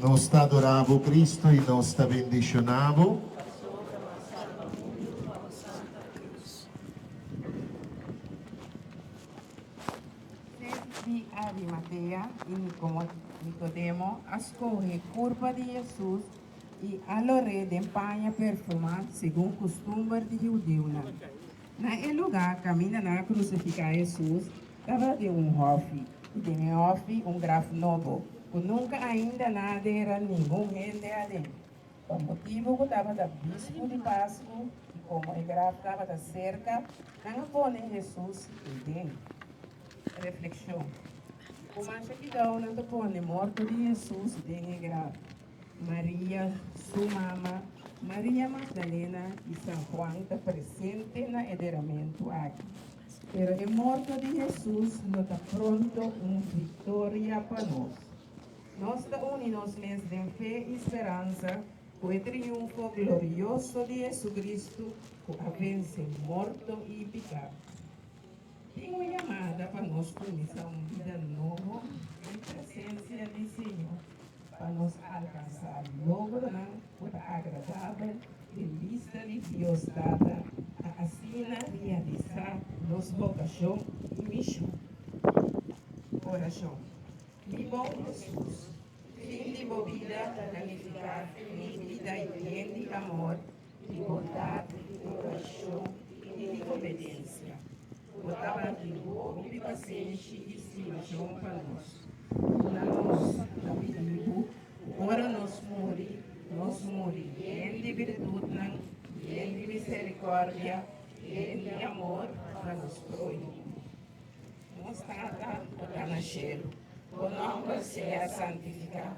Nos ta adorá Bo, Cristo, i nos ta bendishoná Bo. Pasobra Mas Alba Bo i Bo Mas Santu na Deus. Seis di Arimatea i Nikodemo a skohe kurpa di Jesus i a lo re den paña perfumá segun kustumber di di hudiunan. Na e lugá kaminda nan a krusifiká Hesus, tabata un hòfi, i den e hòfi un graf nobo, ku nunka ainda nan a dera ningun hende aden. Pa motibu ku tabata bíspu di Pasku i komo e graf tabata serka, nan a pone Hesus ei den. Reflekshon, Ku masha kidau nan ta pone morto di Hesus den e graf? Maria, su mama, Maria Magdalena i San Juan ta presente na e deramentu aki. Pero e morto di Hesus lo ta pronto un viktoria pa nos. Nos ta uni nos mes den fe i speransa ku e triunfo glorioso di JesuCristu ku a vense morto i piká. Tin un yamada pa nos cuminsa un bida nobo den presencia di Señor pa nos alcansa logronan cu ta agradabel den bista di Dios Tata pa asina realisa nos vocacion y mision. Oracion. Mi bon Jesus, fin di bo bida ta planifica en mi bida y bien di amor. di bondat, di komparashon i di kompetensia. Bo ta bandidu bo hopi pasenshi i stimashon pa nos. Puna nos ta pidi Bo, ora nos muri, nos muri yen di biritutnan, yen di miserikordia, yen di amor pa nos prohimo. Nos tata ku ta na shelu, Bo nòmber sea santifiká.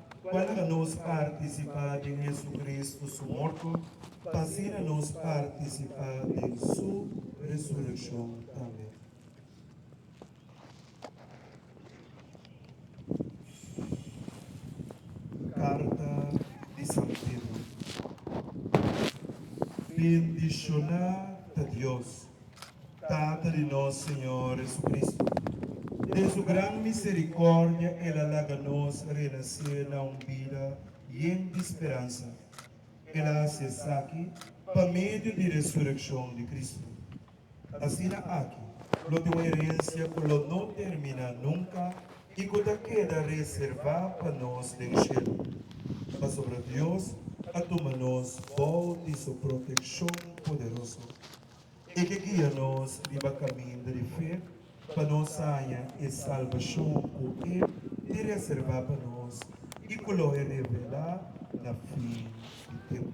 Cuanera nos participa den Jesucristo su morto, pasina nos participa den Su resurreccion tambe. Carta di San Pedro Bendiciona ta Dios! Tata di nos Señor Jesucristo, den su gran misericordia el a laga nos renace na un bida yen di speransa. El a haci esaki pa medio di resureccion di Cristo. Asina aki lo tin un herencia cu lo no termina nunca y cu ta keda reserva pa nos den cielo, pasobra Dios a tuma nos bao di su proteccion poderoso. E ke guia nos riba kaminda di fe pa nos haña e salbashon ku E tin reserbá pa nos i ku lo e revelá na fin di tempu.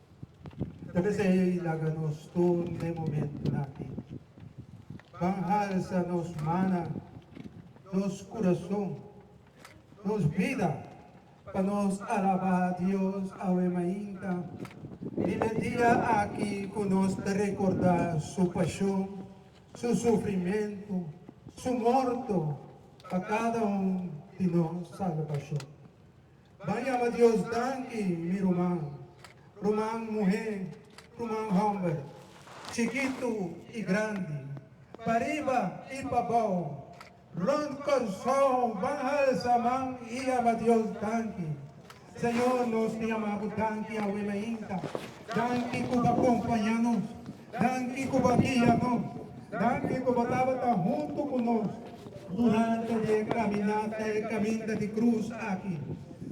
Ta mester ei laga nos tur den momentunan aki. Ban halsa nos mannan, nos kurason, nos bida pa nos alabá Dios awe mainta den e dia aki ku nos ta rekordá Su pashon, Su sufrimentu, Su morto pa kada un di nos salbashon. Ban yama Dios danki, mi ruman, ruman muhé, ruman hòmber, chikitu i grandi, pariba i pabou, rònt Kòrsou, ban halsa man i yama Dios danki. Señor, nos ta yama Bo danki awe mainta. Danki ku bo akompañá nos. Danki ku bo guia nos. Danki ku bo tabata huntu ku nos durante di e kaminata, e kaminda di krus aki.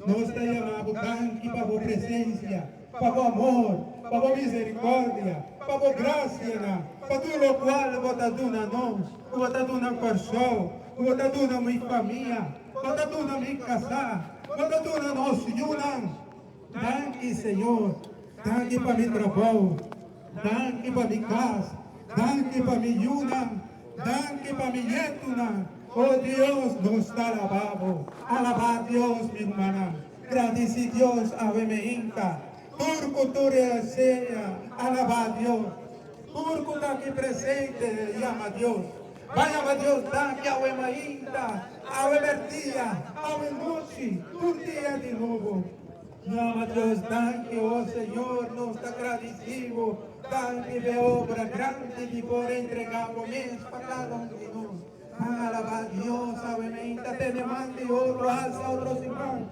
Nos ta yama bo danki pa bo presensia, pa bo amor, pa bo miserikòrdia, pa bo grasianan, pa tur lokual bo ta duna nos, ku bo ta duna Kòrsou, ku bo ta duna mi famia, bo ta duna mi kasá, bo ta duna nos yunan. Danki Señor, danki pa mi trabou, danki pa mi kas, danki pa mi yunan, danki pa mi nietunan, o Dios nos ta alabá bo, alabá Dios mi rmanan, gradisí Dios awe me hinka, tur ku tur e seña, alabá Dios, tur ku ta aki presente yama Dios. Bay a ba Dios daki awe mainta, awe berdia, awe nochi, tur dia di nobo. No a ba Dios danki, o Señor, nos ta gradisi Bo, danki pa e obra grandi di por entrega Bo mes pa cada un di nos. Nan a alaba Dios, awe mainta tene man di otro alsa otro siman.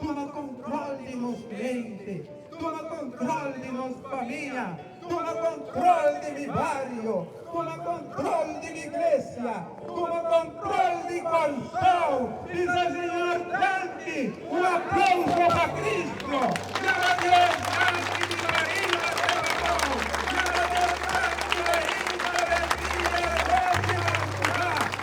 Tuma kontrol di nos mente. Tuma kontrol di nos famia. Tuma kontrol di mi bario. Tuma kontrol di mi gresia. Tuma kontrol di Kòrsou. Bisa Señor danki. Un aplauso pa Kristo. Jaba Dios danki di Maria te Bapou. Jaba Dios danki pa Isabel Dia Rosia Alcuzar.